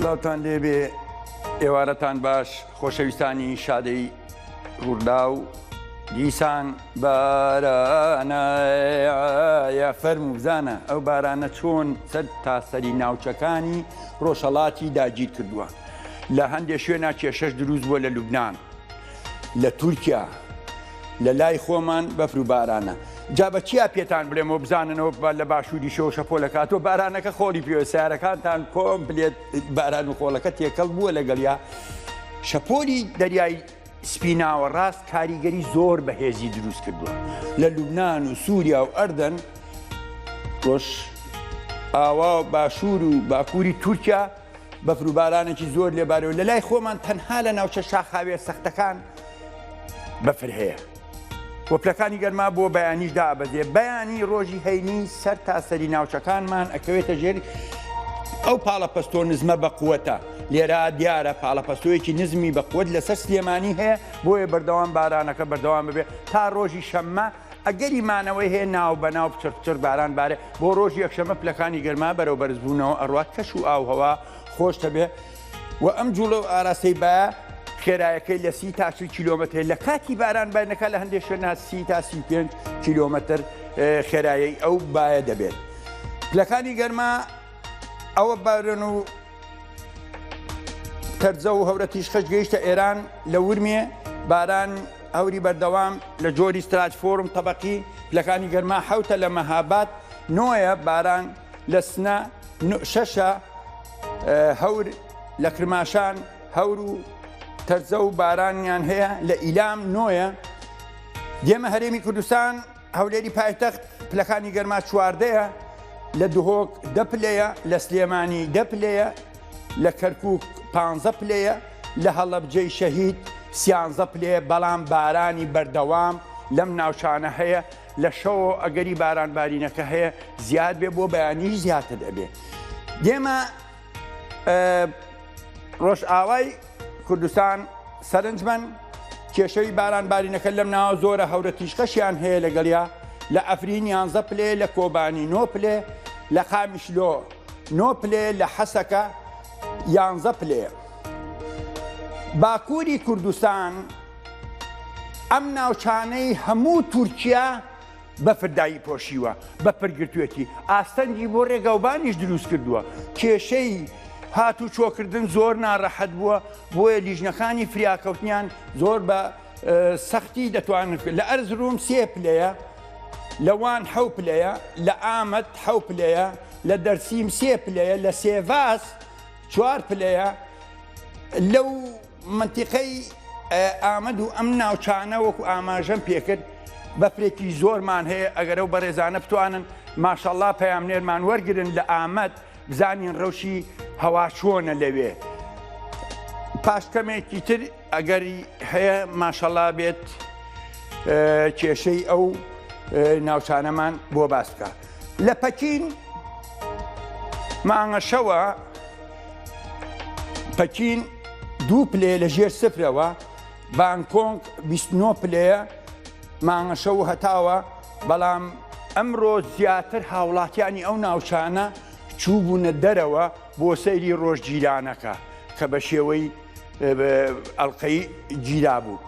سلاوتان لێبێ ئێوارەتان باش خۆشەویستانی شادەی ڕوودا و دیسان بارانەە فەرم و بزانە ئەو بارانە چۆن سەر تاسەری ناوچەکانی ڕۆژهڵاتی داگیر کردووە لە هەندێک شوێنا کێشەش دروست بووە لە لوبناان لە تورکیا لە لای خۆمان بەفر و بارانە جا بە چیا پێتان بلێم و بزاننەوە لە باشووری شەوە شەپۆلەکاتۆ بارانەکە خۆڵی پێوە سیارەکانتان کۆم بلێت باران و خۆڵەکە تێکەڵ بووە لەگەڵیا شەپۆلی دەریای سپیناوە ڕاست کاریگەری زۆر بەهێزی دروست کردووە لە لوبناان و سووریا و ئەردەن ڕۆژ ئاوا باشوور و باکووری تورکیا بەفر و بارانێکی زۆر لێبارەوە لە لای خۆمان تەنها لە ناوچە شاخاوێ سەختەکان بەفر هەیە وەپلەکانی گەرما بۆ بەیانیش دابەزێ بەیانی ڕۆژی هەینی سەر تاسەری ناوچەکانمان ئەکەوێتە ژێر ئەو پاڵەپەستۆ نزمە بە قووەتە لێرا دیارە پاڵەپەستۆیەکی نزمی بە قوت لەسەر سلێمانی هەیە بۆیە بەردەوام بارانەکە بەردەوام ببێ تا ڕۆژی شەممە ئەگەری مانەوەی هەیە ناوبەناو پتر پتر باران بارێ بۆ ڕۆژی یەکشەمە پلەکانی گەرما بەرەو بەرزبوونەوە ئەڕوات کەش و ئاوهەوا خۆش دەبێ و ئەم جوڵە و ئاراستەی با خێرایەکەی لە سی تا چل کیلۆمەتر لە کاتی باران بینەکە لە هەندێک شوێن سی تا سی پێ کیلۆمەتر خێرایی ئەو بایە دەبێت پلەکانی گەرما ئەوە بارن و تەرزە و هەورە تیشخش گەیشتە ئێران لە ورمێ باران هەوری بەردەوام لە جۆری ستراج فۆرم تەبقی لەکانی گەرما حوتە لە مەهابات نۆیە باران لە سنە شەشە هەور لە کرماشان هەور و تەرزە و بارانیان هەیە لە ئیلام نۆیە دێمە هەرێمی کوردستان هەولێری پایتەخت پلەکانی گەرما چواردەیە لە دهۆک دە پلەیە لە سلێمانی دە پلەیە لە کەرکک پ پلەیە لە هەڵەبجەی شەهید سیانزە پلێ بەڵام بارانی بەردەوام لەم ناوچانە هەیە لە شەوە ئەگەری باران بارینەکە هەیە زیاد بێ بۆ بەیانیش زیاتر دەبێ دێمە ڕۆژئاوای کوردستان سەرنجمەن کێشەوی باران بارینەکە لەم ناوە زۆرە هەورە تیشقەشیان هەیە لەگەڵیا لە ئەفرین یانزە پلێ لە کۆبانی نۆ پلێ لە قامیشلۆ نۆ پلێ لە حەسەکە یانزە پلێ باکووری کوردستان ئەم ناوچانەی هەموو تورکیا بەفر دای پۆشیوە، بەفر گرتوویەتی، ئاستەنگی بۆ ڕێگاوبانیش دروست کردووە، کێشەی هاتوچۆکردن زۆر ناڕەحەت بووە، بۆیە لیژنەکانی فریاکەوتنیان زۆر بە سەختی دەتوانن کرد، لە ئەرزروم سێ پلەیە، لە وان حەو پلەیە، لە ئامەد حەو پلەیە، لە دەرسیم سێ پلەیە، لە سێڤاس چوار پلەیە لەو مەنتیقەی ئامەد و ئەم ناوچانە وەکو ئاماژەم پێکرد بەفرێکی زۆرمان هەیە ئەگەرەو بەڕێزانە بتوانن ماشەڵا پەیامنێرمان وەرگن لە ئامەد بزانین ڕەوشی هەوا چۆنە لەوێ پاش کەمێکی تر ئەگەری هەیە ماشەڵا بێت کێشەی ئەو ناوچانەمان بۆ باس بکە لە پەکین مانگەشەوە پەکین دوو پلێ لە ژێر سفرەوە بانکۆنگ 29 پلەیە مانگەشە و هەتاوە بەڵام ئەمڕۆ زیاتر هاوڵاتیانی ئەو ناوچانە چووبوونە دەرەوە بۆ سەیری ڕۆژ جیرانەکە کە بە شێوەی ئەلقەی گیرا بوو.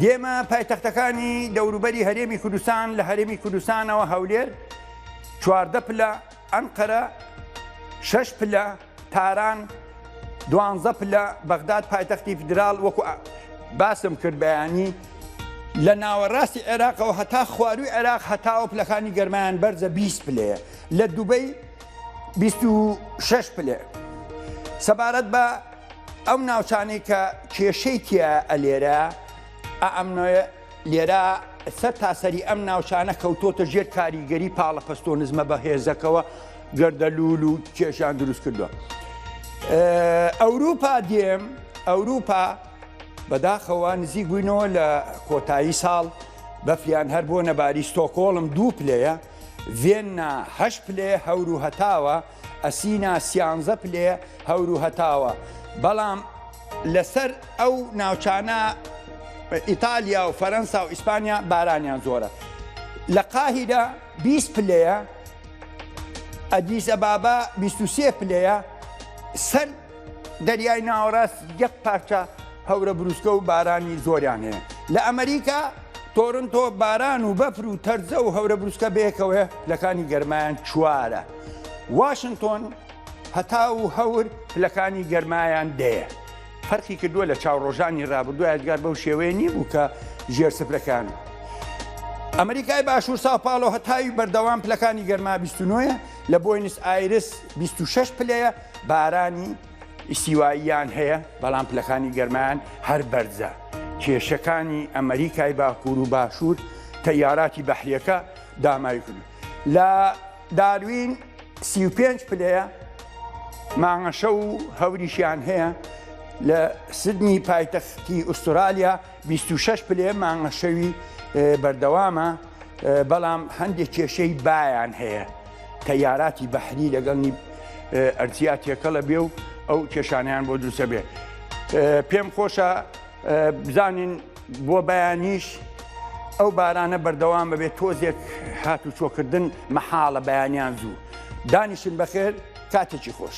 دێمە پایتەختەکانی دەوروبەری هەرێمی کوردستان لە هەرێمی کوردستانەوە هەولێر چواردە پلە ئەنقەرە، شەش پلە، تاران، دوانزە پلە، بەغداد پایتەختی فیدراڵ وەکو باسم کرد بەیانی لە ناوەڕاستی عێراقەوە هەتا خواروی عێراق هەتاوە پلەکانی گەرمایان بەرزە 20 پلەیە لە دوبەی 26 پلێ سەبارەت بە ئەو ناوچانەی کە کێشەی تیا ئەلێرە ئەمنۆە لێرە سەر تاسەری ئەم ناوچانە کەوتۆتە ژێر کاریگەری پاڵەپەستۆ نزمە بە هێزەکەوە گەردەلول و کێشان دروست کردووە. ئەوروپا دێم ئەوروپا بەداخەوە نزیک بووینەوە لە کۆتایی ساڵ بەفریان هەر بۆ نەباری ستۆکۆڵم دوو پلەیە، ڤێننا هەش پلێ هەور و هەتاوە ئەسینا سیانزە پلێ هەور و هەتاوە بەڵام لەسەر ئەو ناوچانە ئیتالیا و فەرەنسا و ئیسپانیا بارانیان زۆرە لە قاهیدا 20 پلەیە ئەدیسە بابا 23 پلەیە سەر دەریای ناوەڕاست یەک پارچە هەورە بروسکە و بارانی زۆریان هەیە لە ئەمریکا تۆرنتۆ باران و بەفر و تەرزە و هەورە بروسکە بەیەکەوەیە پلەکانی گەرمایان چوارە واشنتۆن هەتا و هەور پلەکانی گەرمایان دەیە فەرقی کردووە لە چاو ڕۆژانی ڕابردوو یادگار بەو شێوەیە نییە بوو کە ژێر سفرەکان ئەمریکای باشوور ساپاڵۆ هەتاوی بەردەوام پلەکانی گەرما 29ە لە بۆینس ئایرس 26 پلەیە بارانی ئیستیواییان هەیە بەڵام پلەکانی گەرمایان هەر بەرزە کێشەکانی ئەمریکای باکوور و باشوور تەیاراتی بەحریەکە داماوی کرد لە داروین سی و پێنج پلەیە مانگەشە و هەوریشیان هەیە لە سدنی پایتەختی ئوسترالیا بیست و شەش پلێ مانگە شەوی بەردەوامە بەڵام هەندێک کێشەی بایان هەیە تەیاراتی بەحری لەگەڵنی ئەرتیا تێکەڵە بێ و ئەو کێشانیان بۆ دروستە بێ پێم خۆشە بزانین بۆ بەیانیش ئەو بارانە بەردەوام بەبێت تۆزێک هات و چۆکردن مەحاڵە بەیانیان زوو دانیشن بەخێر کاتێکی خۆش.